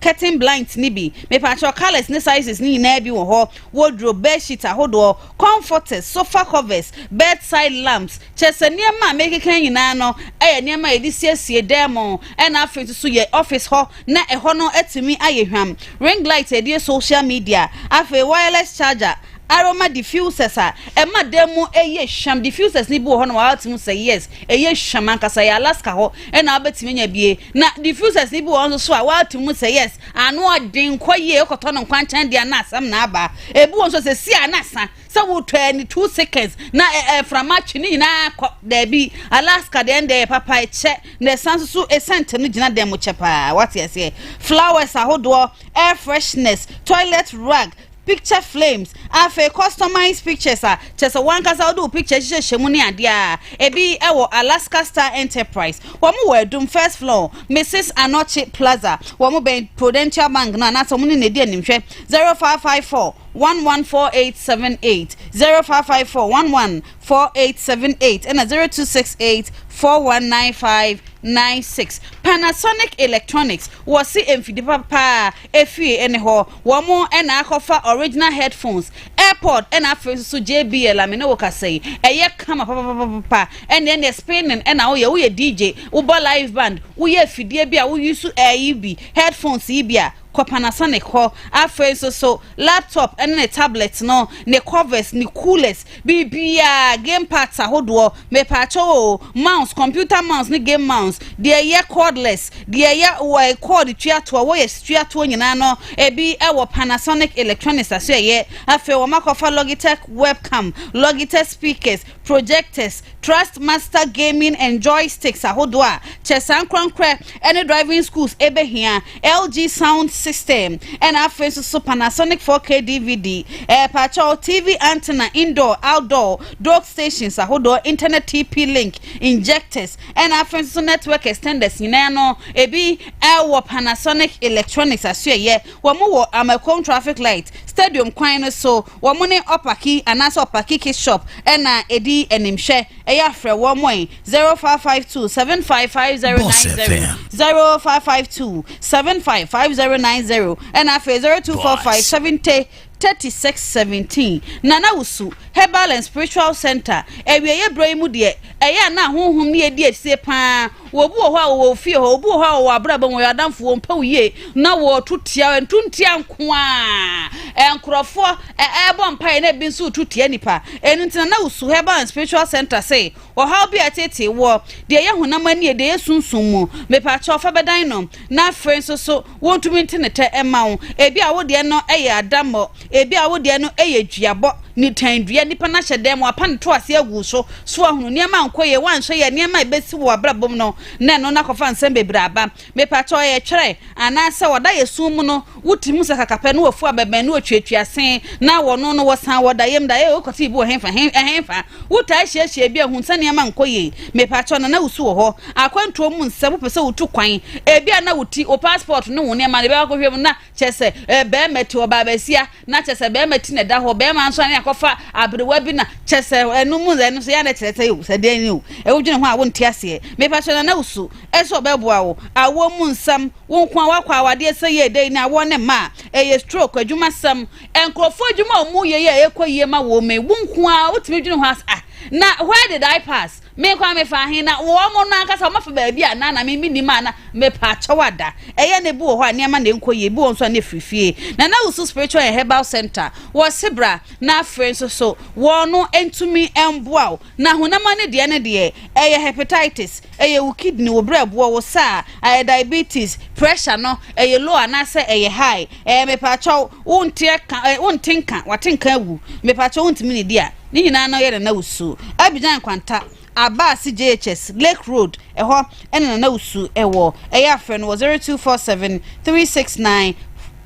curtain blinds ne bi mepakyɛ colors ne sizes ne nyinaa bi wɔ hɔ wardrobe bedsheet ahodoɔ Comforters, sofa covers, bedside lamps, kyerɛ sɛ nneɛma a merekeka yi nyinaa no yɛ nneɛma a yɛde siesie dan mu na afei nso so yɛ office hɔ na ɛhɔ no atumi ayɛ hwam, ring light a yɛde yɛ social media, afei wireless charger, aroma diffusers a ɛma dan mu yɛ hwam, diffusers no bi wɔ hɔ nom a woatumi ahu sɛ yes ɛyɛ hwam ankasa, ɛyɛ Alaska hɔ na wobɛtumi anya bi. Na diffusers no bi wɔ hɔ nso so a woato mu sɛ yes, ano ɔden, kɔ yie, wokɔtɔ no nkwankyɛn deɛ a na asɛm na aba. Ebi wɔ nso sɛ si a na sa, sɛ wotɔ a ɛne two seconds na ɛ, ɛ, mframa twe ne nyinaa kɔ. Daabi, Alaska deɛ ɛnde ɛyɛ papa, ɛkyɛ, na ɛsan nso so scent no gyina dɛm kyɛ paa, woate aseɛ. Flowers ahodoɔ, air freshness, toilet rag, picture flames, afei customized pictures a kyerɛ sɛ wankasa wode wo picture hyehyɛhyɛ mu ne adeɛ a, ebi wɔ Alaska Star Enterprise, wɔn wɔ Adum first floor, Mrs Anokye Plaza, wɔn bɛn Prudential Bank no anaasɛ wɔn ne no adi animhwɛ, 0554 114878, 0554 114878 ɛna 0268 419596. Panasonic Electronics, wɔse mfidie papa paa. Efie ɛne hɔ wɔn na akɔfa original headphones, airpod ɛna afei nso so JBL a me ne wo kasa yi ɛyɛ kama papapapapa ɛneɛ neɛ spinning ɛna woyɛ woyɛ DJ wobɔ live band woyɛ afidie bi a wo use ɛyi bi headphones yi bi a kɔ Panasonic hɔ afei nso so laptop ɛne ne tablet no ne covers ne coolers Biribiara, game parts ahodoɔ, mepaakyɛw oo, mouse, computer mouse ne game mouse, deɛ ɛyɛ cordless, deɛ ɛyɛ wɔ cord tua toɔ, wires tua toɔ nyinaa no ebi wɔ Panasonic Electronics asoɛeɛ. Afei wɔakɔfa Logitech webcam, Logitech speakers, projectors, Trustmaster gaming and joysticks ahodoɔ a kyɛ saa ankorankorɛ ne driving schools bɛhia. LG sound system ɛna afei nso so Panasonic 4K DVD ɛɛ paakyɛw TV antenna indoor outdoor dock stations ahodoɔ internet TP link injectors ɛna afei nso so network extenders nyinaa no ebi ɛwɔ Panasonic electronics asoɛyɛ wɔn wɔ Amakom traffic light stadium kwan no so wɔn ne ɔpaki anaasɛ ɔpaki kit shop ɛna edi animhwɛ ɛyɛ afrɛ wɔn zero five five two seven five five zero nine zero zero five five two seven five five zero nine zero ɛna afei zero two four five seventy thirty six seventeen nana wusu herbal and spiritual center awieeɛ berɛ yi mu deɛ ɛyɛ a na ahohom ne yɛdi asie paa wɔbu wɔ hɔ a wɔwɔ ofie hɔ wɔbu wɔ hɔ a wɔwɔ abrabɔ wɔn yɛ adamfo wɔn mpɛ yie na wɔtu tia ntu ntia nko a nkurɔfoɔ ɛɛbɔ mpaeɛ na ebi nso tu tia nipa ɛnu nti nana wusu herbal and spiritual center sɛ Ɔhaw bi a ɛteetee woɔ, deɛ ɛyɛ honam ani yɛ, deɛ ɛyɛ sunsum mu, mepakyɛw, fa bɛdan no, na afei nso so wontumi nte ne tɛ mma wo. Ebia wo deɛ no yɛ adammɔ, ebia wo deɛ no yɛ duabɔ, nitan dua, nnipa no ahyɛ dan mu, wɔapa ne toase agu wo so, so woahunu, nneɛma ankɔ yie, woanhwɛ yie a, nneɛma a ɛbɛsi wɔ w'abrabɔ mu no, na ɛno no akɔfa nsɛm bebree aba. Mepatɔɔ yɛ twerɛ anaa sɛ wɔda yɛ sum mu no wo ti mu sakaka pɛ na wɔ fu abɛbɛn na wɔtuatua se na wɔ no no wɔ san wɔ da yɛm da ee wokɔ te bi wɔ henfa henfa wo taa hyiahyia bi a hun sɛ nneɛma nkɔ yie mepatɔ nana wo su wɔ hɔ akwantuo mu nsɛm wopɛ sɛ wo tu kwan ebi a na wo ti wo passport ne wo nneɛma no bɛkɔ hwɛ mu na Kyerɛ sɛ, ɛɛ, barima ti, ɔbaa basia, na kyerɛ sɛ barima ti na ɛda hɔ, barima nso ane akɔfa aberewa bi na kyerɛ sɛ ɛno mu ɛno nso yɛ na kyerɛ sɛ o sɛ deɛ ni o ɛwo dwene ho a wonte aseɛ mepa kyerɛ na na usu ɛsɛ ɔbɛboa wo awoɔ mu nsɛm wo nko a wakɔ awadeɛ sɛ yɛ ɛdɛ yi ne awoɔ ne mma a ɛyɛ stroke adwuma sɛm nkurɔfoɔ adwuma a wɔn yɛ yɛ ɛkɔ yie ma wɔn mɛ wo nko a wotumi dwene ho as ah na where did I pass Me kwan me fa he na wɔn mo no ankasa wɔn afa baabi anaa na me me nim a na me paa kyɛw ada ɛyɛ na ebi wɔ hɔ a nneɛma na ɛnkɔ yie ebi wɔ nso a na efiri fie na na wusu spiritual and herbal center wɔ se bra na afei nso so wɔn no ntumi mboa wo na honam ani deɛ ne deɛ ɛyɛ hepatitis ɛyɛ wo kidney wo brɛ boɔ wo sa a ɛyɛ diabetes pressure no ɛyɛ low anaasɛ ɛyɛ high ɛyɛ me paa kyɛw wo nte ka wo nte nka wate nka awu me paa kyɛw wo ntumi ne di a Ne nyinaa na ɔyɛ Nana Usu. Abidjan nkwanta, aba ase JHS, Lake Road, ɛhɔ na Nana Usu wɔ. Ɛyɛ a frɛ no wɔ 0247 369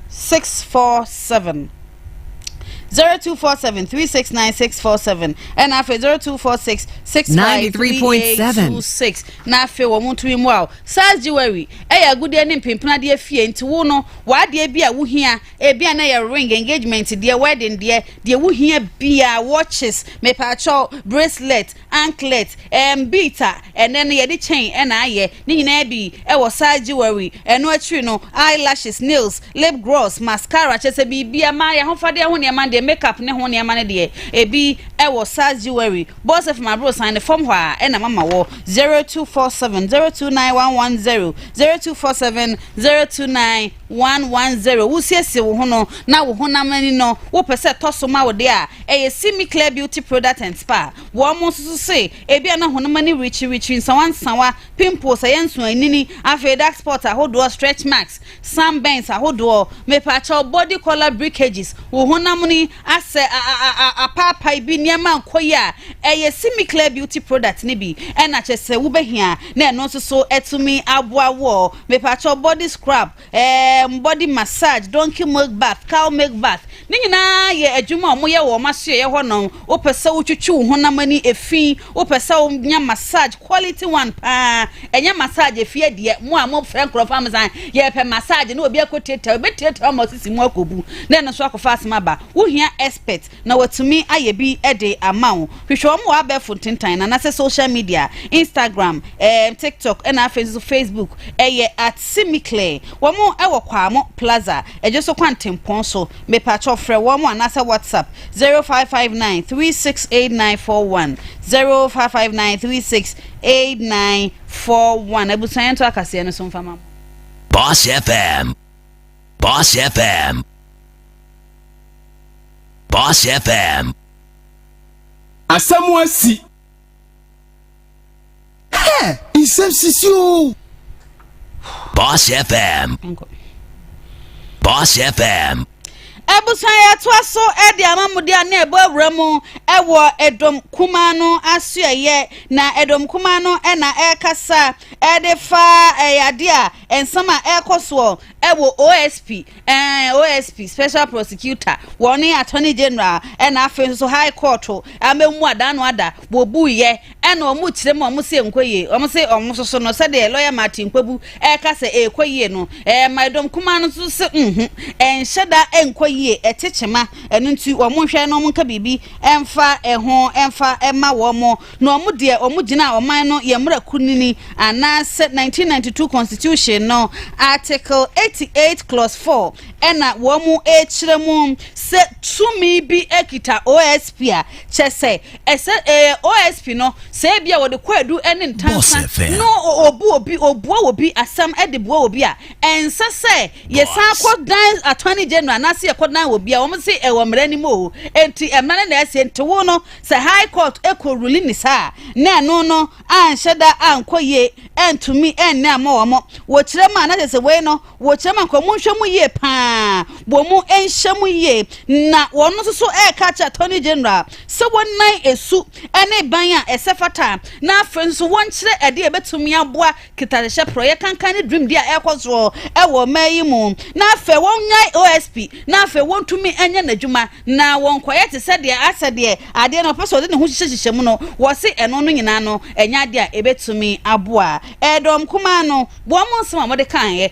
647. 0247 369 647 ɛna afei 0246 653826 na afei wɔn mo ntumi mu a SARS jewelry ɛyɛ agudeɛ ne mpempenadeɛ fie nti wo no w'adeɛ bi a wohia ebi a na yɛ ring engagement deɛ wedding deɛ Deɛ wo hia biaa, watches, mepaakyɛw, bracelet, anklet, ɛɛm beat a ɛnɛ no yɛde chain na ayɛ, ne nyinaa bi wɔ saa jewelry, ɛno akyiri no eye lashes, nails, lip gross, mascara, kyerɛ sɛ biribiaa, maa y'ahofadeɛ ho nneɛma no deɛ, make up ne ho nneɛma no deɛ, ɛbi wɔ saa jewelry, bɔs fam aborosan no fam hɔ a na mama wɔ, 0247 029110, 0247 029110. 110 wosiesie wo ho no na wo honam ani no wopɛ sɛ ɛtɔ so ma wo de a, ɛyɛ See Me Clear Beauty Product and Spa. Wɔn nso so se ebia na honam ani rekyirikyiri, nsawansawa, pimples, ɛyɛ nsoanini, afei dark spots ahodoɔ, stretch marks, sunburns ahodoɔ, mepakyɛw, body color breakages, wo honam ani asɛ a a a a apaapae bi nneɛma nkɔ yie a, ɛyɛ See Me Clear Beauty Product no bi na kyerɛ sɛ wobɛhia na ɛno nso so atumi aboa woɔ. Mepakyɛw body scrub, um, body massage, donkey milk bath, cow milk bath, ne nyinaa yɛ adwuma a wɔyɛ wɔ wɔn asoɛeɛ hɔ nom. Wopɛ sɛ wotwitwi wo honam ani efi, wopɛ sɛ wonya massage, quality one paa, ɛnyɛ massage efie deɛ, mo a mofrɛ nkorɔfoɔ a mo san, yɛpɛ massage na obi akɔtiatia wo, ɛbɛtiatia wo ama wo sisi mu akɔbu, na ɛno nso akɔfa asɛm aba. Wohia expert, na watumi ayɛ bi de ama wo. Hwehwɛ wɔn wɔ abɛɛfo ntentan no anaasɛ social media, Instagram, ɛɛm, TikTok, ɛna afei nso Facebook. Ɛyɛ at Simiclear. Wɔn wɔ Kwamo Plaza, Adwo so kwan Tempɔn so. Mepakyɛw frɛ wɔn anaasɛ WhatsApp, zero five five nine three six eight nine four one, zero five five nine three six eight nine four one. Abusua yɛn to akaseɛ no so mfa ma mo. Boss FM. Boss FM. Boss FM. Asɛm asi. Hɛ! Nsɛm sisi o. Boss FM. Boss FM. abusua yɛtoa so de ama mu de a na ɛbɔ awura mu wɔ ɛdɔm kuma no asoɛyɛ na ɛdɔm kuma no na ɛrekasa ɛde fa ɛyɛ adeɛ a Nsɛm a ɛrekɔ soɔ wɔ OSP, eh, OSP, Special Prosecutor, wɔ ne Attorney General, ɛna afei nso so High Court, ama mu ada ano ada, wɔbuiɛ, ɛna wɔn rekyerɛ mu a wɔn se ɛnkɔ yie, wɔn se wɔn soso no, sɛdeɛ Lawyer Martin Kpebu ɛreka sɛ ɛrekɔ yie no, eh, Maidom Kumaa no nso se nhu, ɛnhyɛ da ɛnkɔ yie, ɛte kyema, ɛno nti wɔn nhwɛ na wɔn nka biribi ɛmfa ɛho ɛmfa ɛma wɔn. Na ɔmo deɛ ɔmo gyinaa ɔman no yɛ mmra kunini anaa sɛ 1992 constitution no article 88 clause 4 ɛna wɔmo ɛɛkyerɛ mu sɛ tumi bi ɛkita OSP a kyɛ sɛ ɛsɛ ɛɛ OSP no sɛ ebi a wɔde kɔ adu ɛne ntansa no obu obi obua obi asɛm ɛde bua obi a ɛnsɛ sɛ yɛsan kɔ dan attorney general anaasɛ yɛkɔ dan obi a wɔn se ɛwɔ mmra anim o enti ɛmmra ne na ɛsɛ nti wo no Sɛ High Court kɔ ruling ne saa a, na ɛno no anhyɛ da ankɔ yie, antumi anni ammɔ wɔn. Wɔkyerɛ mu a, na kyerɛ sɛ wei no, wɔkyerɛ mu ankɔ, monhwɛ mu yie pa ara, wɔn nhyɛ mu yie. Na wɔn nso so reka akyerɛ Attorney General sɛ wɔnnan su ne ban a ɛsɛ fata, na afei nso wɔnkyerɛ ɛdeɛ a ɛbɛtumi aboa kitadehyɛ porɔ yɛ kankan ne dwumdi a ɛrekɔ soɔ wɔ ɔman yi mu na afei wɔnyae OSP na afei wɔntumi nyɛ n'adwuma na wɔnkɔyɛ te sɛ deɛ asɛ deɛ adeɛ no ɔpɛ sɛ ɔde ne ho hyehyɛ hyehyɛ mu no, wɔse ɛno no nyinaa no ɛnyɛ adeɛ a ɛbɛtumi aboa ɛdɔm kumaa no. Wɔn nsɛm a wɔde kaeɛ.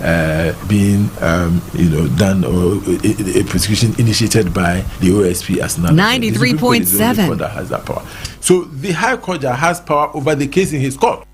uh, being um, you know done or a, a prosecution initiated by the OSP as an 93.7 that has that power. So the High Court has power over the case in his court.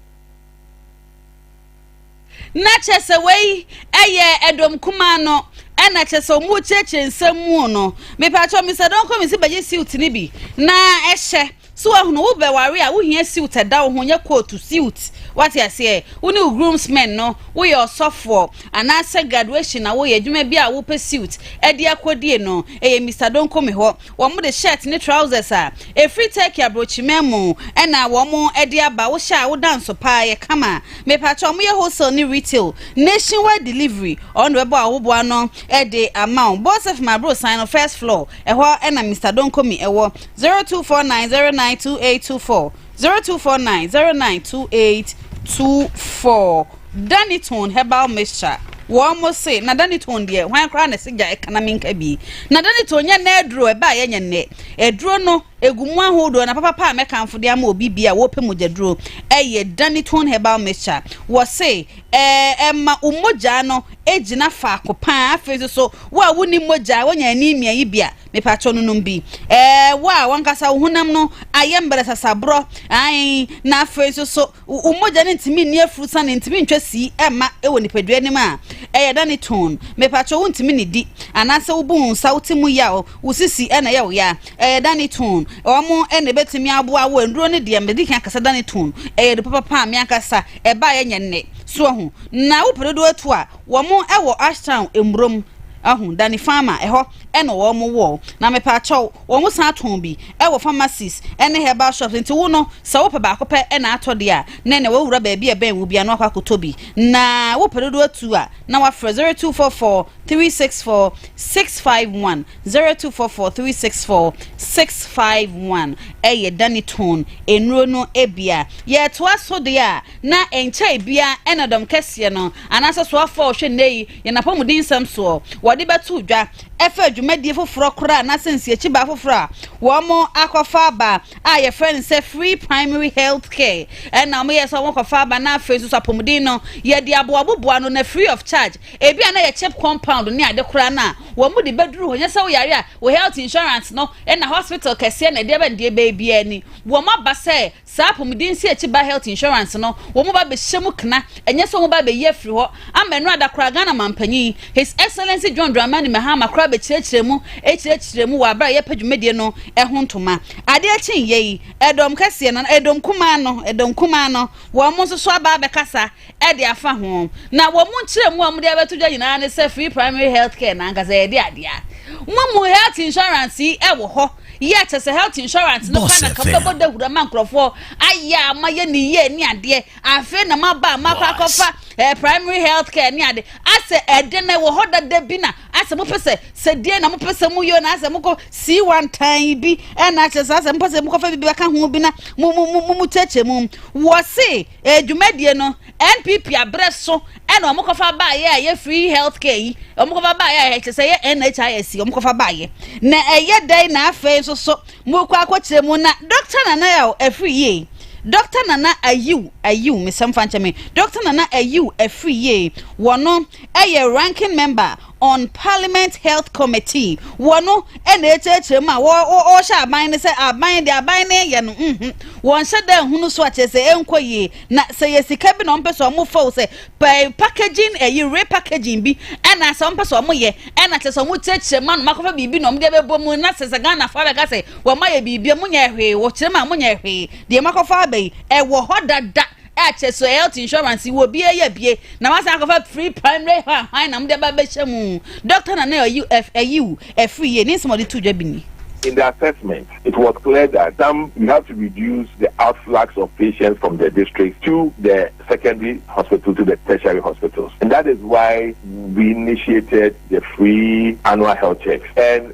na kyɛ sɛ wei ɛyɛ ɛdɔm kumaa no ɛna kyɛ sɛ ɔmo kyerɛkyerɛ nsɛm mu no mepatwɛ mr dɔnkɔ mi si bɛgye siwt ne bi na ɛhyɛ So wahunu wo bɛware a wohia siwt ɛda wo ho nyɛ kootu siwt wate aseɛ wo ne wo groomsmen no woyɛ ɔsɔfoɔ anaasɛ graduation na woyɛ adwuma bi a wopɛ siwt ɛde akɔdie no ɛyɛ Mister Donkomi hɔ wɔn de shirt ne trousers a ɛfiri Turkey abrokyiman mu ɛna wɔn ɛde aba wo hyɛ a woda nso paa yɛ kama mepakyɛ wɔn yɛ wholesale ne retail nationwide delivery wɔn de bɛbɔ ahoboa no ɛde ama wo Bosef ma abrosan no first floor ɛhɔ ɛna Mister Donkomi ɛwɔ Zero two four nine zero nine two eight two four zero two four nine zero nine two eight two four Danitone herbal mixture wɔn mo se na Danitone deɛ hwan koraa na ɛsɛ gya ɛkana mi nka bi na Danitone nyɛ nna aduro ɛbɛ a yɛnyɛ nnɛ aduro no egu mu ahodoɔ na papapa a mɛkanfo de ama obi bi a wɔpɛ mogya duro ɛyɛ Danitone herbal mixture wɔ se ɛɛ ɛma omogya no egyina faako paa afei nso so wɔ a wonni mogya wɔnya anemia yi bi a Mepakyɛw no nom bi. Ɛɛ, wo a wankasa wo honam no ayɛ mbrɛsasaborɔ, ae, na afei nso so wo mogya no ntumi nni afurusane, ntumi ntwa sii mma wɔ nipadua no mu a, ɛyɛ dɛ ne tone. Mepakyɛw wontumi nnidi, anaasɛ wobu wo nsa, wo ti mu yaw, wo sisi na ɛyɛ wo ya, ɛyɛ dɛ ne tone. Wɔn na ebetumi aboa wo. Nnuro no deɛ, medi kan kasa dɛ ne tone. Ɛyɛ nnuro papa paa, me ankasa ɛbaeɛ nyɛ nnɛ. So ahu? Na wopɛ dodoɔ tu a, wɔn wɔ Ashtown, Mmurom, ahu, Danny Farmer, ɛhɔ. na wɔn wɔ na mepaakyɛw wɔn san tɔn bi wɔ pharmacies ne herbal shops nti wo no sɛ wopɛ baako pɛ na atɔ deɛ a na na wawura baabi a ɛbɛn wo bia na wakɔ akɔtɔ bi na wopɛ dodo atu a na wafrɛ 0244 364 651 0244 364 651 ɛyɛ Danny Tone nnuro no ebia yɛtoa so deɛ a na nkyɛe bia ɛna dɔm kɛseɛ no anaasɛ so afɔ ɔhwɛ nnɛ yi Yɛn apɔmuden nsɛm soɔ wɔde bɛto dwa ɛfa dwumadie foforɔ koraa anaasɛ nsiakyibaa foforɔ a wɔn akɔfa aba a yɛfrɛ no sɛ free primary health care ɛna wɔn yɛ sɛ wɔn kɔfa aba na afei nso so apɔmuden no yɛde aboaboboa no na free of charge ebi a na yɛ chip compound ne ade koraa na wɔn de bɛduru hɔ nyɛ sɛ woyare a wo health insurance no ɛna hospital kɛseɛ na ɛdeɛ bɛn deɛ baabiara ni wɔn aba sɛ Saa apɔmuden siekyi ba health insurance no wɔn ba bɛhyɛ mu kena, ɛnyɛ sɛ wɔn ba bɛyi afiri hɔ. Ama ɛno ada koraa Ghana Manpanyin, His Excellency John Dramani Mahama koraa bɛkyerɛkyerɛɛ mu kyerɛkyerɛɛ mu wɔ aberɛ a yɛrepɛ dwumadie no ho ntoma. Adeɛ kye nyɛ yi, ɛdɔm kɛseɛ no, ɛdɔm kumaa no, ɛdɔm kumaa no, wɔn nso so aba abɛkasa. de afa ho, na wɔn nkyerɛmu a wɔde abɛto dwa nyinaa ne sɛ free primary health care no ankasa yɛde adeɛ a mo mu health insurance yi wɔ hɔ yɛ kyɛ sɛ health insurance no pa na ka bɛbɔ dahura ma nkurɔfoɔ ayɛ a ma yɛ ne yie ne adeɛ afei na ma ba ma kɔ akɔfa eh, primary health care ne ade asɛ ɛde na ɛwɔ hɔ dada bi na asɛ mo pɛ sɛ sɛ deɛ na mo pɛ sɛ mo yɛ na asɛ mo kɔ sii wantan bi ɛna akyɛ sɛ asɛ mo pɛ sɛ mo kɔfa bi bɛka ho bi na mo mo mo mo kyɛkyɛ mu wɔ se Ɛyɛ dwumadie no NPP aberɛ so ɛna wɔn kɔfa baayɛ a ɛyɛ free health care yi wɔn kɔfa baayɛ a ɛkyɛ sɛ ɛyɛ NHIS yi wɔn kɔfa baayɛ na ɛyɛ dɛn na afei nso so mo kɔ akɔkyerɛ mu na Dr Nana yɛ o ɛfiri yie Dr Nana ayiw ayiw mesɛm fa nkyɛn me Dr Nana ayiw ɛfiri yie wɔn ɛyɛ ranking member on Parliament Health Committee, wɔ no na ɛkyerɛkyerɛ mu a wɔhyɛ aban no sɛ aban deɛ aban no yɛ no nhu, wɔnhyɛ da nhunu so a kyerɛ sɛ ɛnkɔ yie. Na sɛ yɛ sika bi na wɔmpɛ sɛ wɔfa o sɛ packaging ɛyi repackaging bi ɛna sɛ wɔmpɛ sɛ wɔyɛ ɛna kyerɛ sɛ wɔkyerɛkyerɛ mu a na wɔakɔfa biribi na wɔde abɛbɔ mu na sɛ sɛ Ghana fa bɛka sɛ wɔayɛ biribi a monyɛ hwee wɔkyerɛ mu a monyɛ hwee deɛ moakɔfa aba yi ɛwɔ hɔ dada Ɛkyɛ so health insurance wɔ bie yɛ bie na wasan akɔfa free primary hɔ ahwan na mo de aba bɛhyɛ mu doctor na na ɛyi ɛyi wo ɛfiri yie ne nsɛm ɔde tu dwa bi ni. In the assessment, it was clear that some we have to reduce the outflux of patients from the districts to the secondary hospitals to the tertiary hospitals and that is why we initiated the free annual health checks and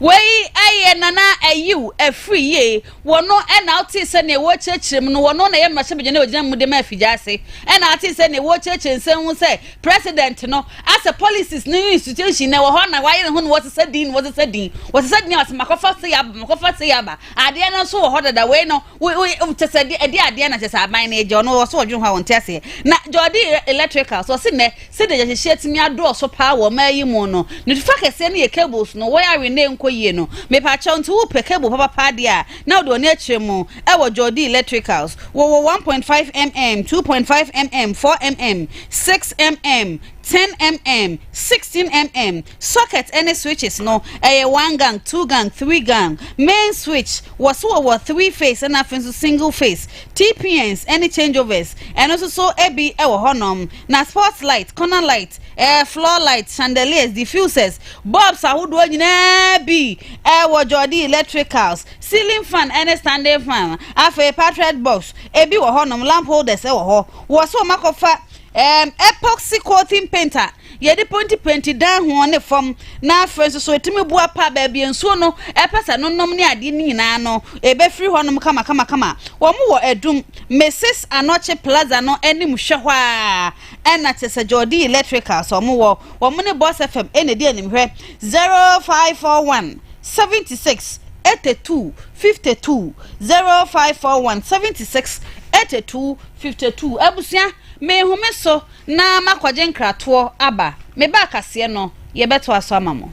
Wei yɛ Nana Ayew afiri yie. Wɔno na wotee sɛ nea wɔrekyerɛkyerɛ mu no, wɔno na ɛyɛ mmarahyɛbadwani a wɔgyina mu de ma afigya ase. Ɛna ate sɛ nea wɔrekyerɛkyerɛ nsɛm ho sɛ president no asɛ policies ne ne institution na ɛwɔ hɔ na wɔayere ho na wɔsesa din na wɔsesa din. Wɔsesa din a wɔsɛ makɔfa sei aba, makɔfa sei aba. Adeɛ no nso wɔ hɔ dada. Wei no, wo wo kyɛ sɛ de ɛde adeɛ na kyɛ sɛ aban no agya ɔno ɔso ɔdwene ho a wɔnte aseɛ na gya ɔde electrical so ɔse nnɛ sɛdeɛ gyahyehyɛ tumi adɔɔso paa wɔ ɔmaa yi mu no ne fa kɛseɛ no yɛ cables no wɔyɛ awe na ɛnkɔ yie no mepaakyɛw nti wopɛ cable papapa adeɛ a na wode ɔne akyerɛ mu ɛwɔ gya ɔde electricals wɔwɔ 1.5 mm 2.5 mm 4 mm 6 mm 10mm, 16mm, socket ne switches no ɛyɛ one gang, two gang, three gang, main switch, wɔ so wɔwɔ three phase ɛna afei nso single phase, TPNs ɛne changeovers ɛno nso so ebi ɛwɔ hɔnom, na sports light, corner light, eh, floor light, chandeliers, diffusers, bulbs ahodoɔ nyinaa bi ɛwɔ Jɔdi electricals, ceiling fan ɛne standing fan, afei patriot box ebi wɔ hɔnom, lamp holders ɛwɔ hɔ, wɔ so wɔn akɔfa Ɛɛm, Epoxy coating paint a yɛde pentipenti dan ho ne fam, na afei nso so ɛtumi boa pa baabi a nsuo no pɛ sɛ no nom ne adeɛ no nyinaa no, ɛbɛfiri hɔnom kamakamakama. Wɔwɔ Adum, Mrs. Anokye Plaza no anim hwɛ hɔ ara, ɛna kyerɛ sɛ Jordie Electricals wɔwɔ, wɔn ne Boss FM na ɛdi anim hwɛ, 0541 76 82 52, 0541 76 82 Fifty two, Abusua, Merehome so na makɔgye nkratoɔ aba. Me ba akaseɛ no, yɛbɛtoa so ama mo.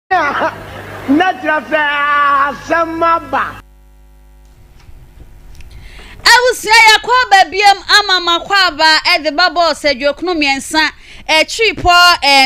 Na kyerɛ sɛ asɛm aba. Abusua yɛkɔ aba biam ama makɔ aba de ba bɔs aduokunu mmiɛnsa akyiri pɔ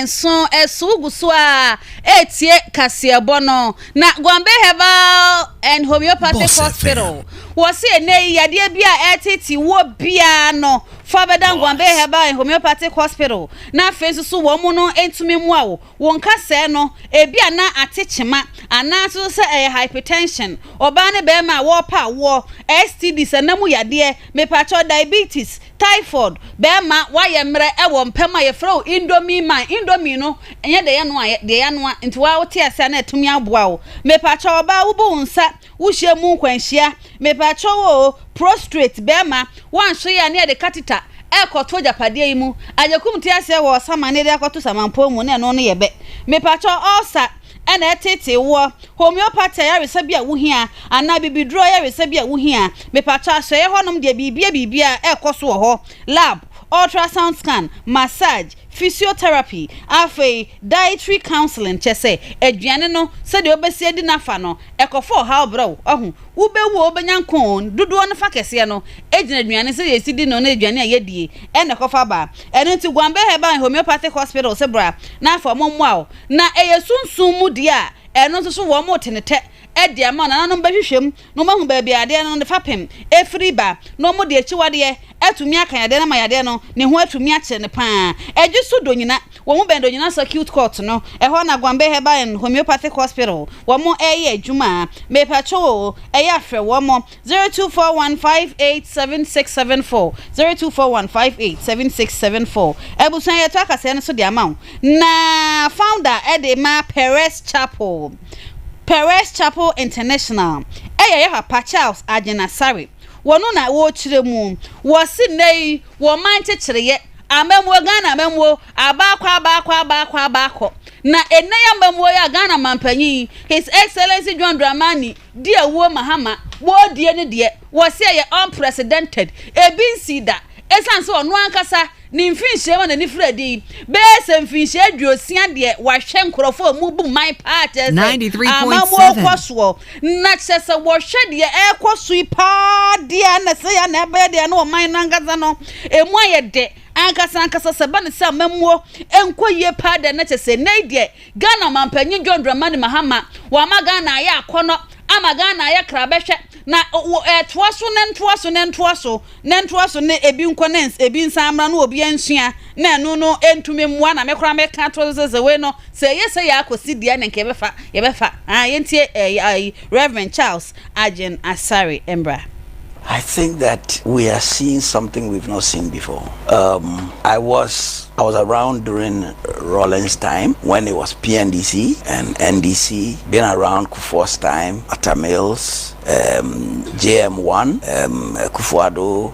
nso so wogu so a ɛretie kaseɛbɔ no na Gombe Herbal and Homeopathic Hospital wɔ se ɛnɛ yi yadeɛ bi a ɛretete wɔ biara no fa bɛda Gombe Herbal and Homeopathic Hospital na afei nso so wɔn no ntumi mmoa wo Wo nka sɛɛ no, ebia na ate kyema, anaase nso sɛ ɛyɛ hypertension, ɔbaa ne barima a wɔrepɛ awoɔ, STDs, ɛna mu yadeɛ, mepakyɛw, diabetes, typhoid, barima, woayɛ mmerɛ wɔ mpam a yɛfrɛ wo indomie man, indomie no nyɛ deɛ yɛnoa, ɛyɛ deɛ yɛanoa, nti wo ara wote aseɛ a na atumi aboa wo. Mepakyɛw ɔbaa wobu wo nsa Wo hyia mu nkwanhyia, mepakyɛw oo, prostrate, bɛɛma, woanhwɛ yie a ne yɛde catheter ɛɛkɔ to agyapadeɛ yi mu, agyekum te aseɛ wɔ ɔsama ne yɛde akɔ to samanpɔn mu ne ɛno ne yɛbɛ, mepakyɛw ulcer ɛna ɛtetee woɔ, homeopathy ayaresa bi a wo hia, anaa bibiduro ayaresa bi a wo hia, mepakyɛw asoɛeɛ hɔ nom deɛ biribiaa biribiaa ɛɛkɔ so wɔ hɔ, lab, ultrasound scan, massage, Physiotherapy, Afei, dietary counseling kyɛ sɛ aduane no sɛdeɛ wobɛsi adi no afa no, ɛkɔfa ɔhaw brɛ wo. Wahu? Wobɛwu a wobɛnya nkwa oo, dodoɔ no fa kɛseɛ no gyina aduane sɛdeɛ yɛsi di no ne aduane a yɛdie ɛna ɛkɔfa ba. Ɛno nti Gwanbɛ Herbal and Homeopathic Hospital se bra na afa wɔn mmoa wo. Na ɛyɛ sunsum mu deɛ a, ɛno nso so wɔn retenetɛ de ama wo, nananom bɛhwehwɛ mu, na wɔahu baabi a yadeɛ no ne fapem firi ba, na wɔde akyiwadeɛ atumi aka yadeɛ no ama yadeɛ no ne ho atumi akyere no pa ara. Ɛgye so Donyina, wɔn bɛn Donyina Circuit Court no, ɛhɔ na Gombe Herbal and Homeopathic Hospital wɔn ɛreyɛ adwuma. Mepakyɛw o, ɛyɛ a frɛ wɔn, zero two four one five eight seven six seven four, zero two four one five eight seven six seven four. Abusua yɛto akasɛɛ no so de ama wo, na founder de ma Perez Chapel. Perez Chapel International yɛ yɛ papa Charles Agyen Asare wɔ no na wɔkyerɛ mu. Wɔ se nnɛ yi wɔ man nkyekyereɛ, amammuo, Ghana amammuo, abaakɔ abaakɔ abaakɔ abaakɔ, na nnɛ yi amammuo yi a Ghana manpanyin His Excellency John Dramani di awuo mahama wɔredie no deɛ, wɔ se ɛyɛ unprecedented, ebi nsii da, ɛsiane sɛ ɔno ankasa Ne mfirinhyia mu a n'ani firi adi yi bɛyɛ sɛ mfirinhyia aduosia deɛ wahwɛ nkorɔfoɔ a wɔbu mman paa kyerɛ sɛ amammuo kɔ soɔ. Na kyerɛ sɛ wɔhwɛ deɛ ɛrekɔ so yi paa deɛ a na sɛ yɛ na ɛbɛyɛ deɛ na ɔman no ankasa no ɛmu ayɛ dɛ ankasa ankasa sɛ ɛba no sɛ amammuo nkɔ yie paa deɛ na kyerɛ sɛ nnɛ yi deɛ Ghana Ɔmanpanyin John Dramani Mahama wama Ghana ayɛ akɔnnɔ ama Ghana ayɛ krabɛhwɛ na wɔ ɛtoa so ne ntoa so ne ntoa so ne ntoa so ne ebi nkɔ ne ebi nsan mmra no obia nsua na ɛno no ɛntumi mmoa na me koraa me ka to sɛ sɛ wei no sɛ ɛyɛ sɛ yɛ akɔsi deɛ ne nka yɛbɛfa yɛbɛfa ah yɛntie eh, eh, Reverend Charles Agyen Asare mbra. I think that we are seeing something we've not seen before um I was I was around during Rawlings time when it was PNDC and NDC been around Kufuor's time Atta Mills um JM1 um Akufo-Addo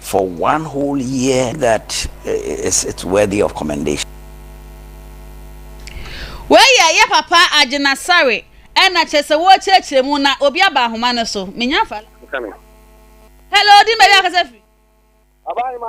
for one whole year that is it's worthy of commendation. Wei yɛ yɛ papa Agyena Sare ɛna kyerɛ sɛ wɔrekyerɛkyerɛ mu na obi aba ahoma no so. Menya fa. Hello, di mɛwi akasa firi. Abaayema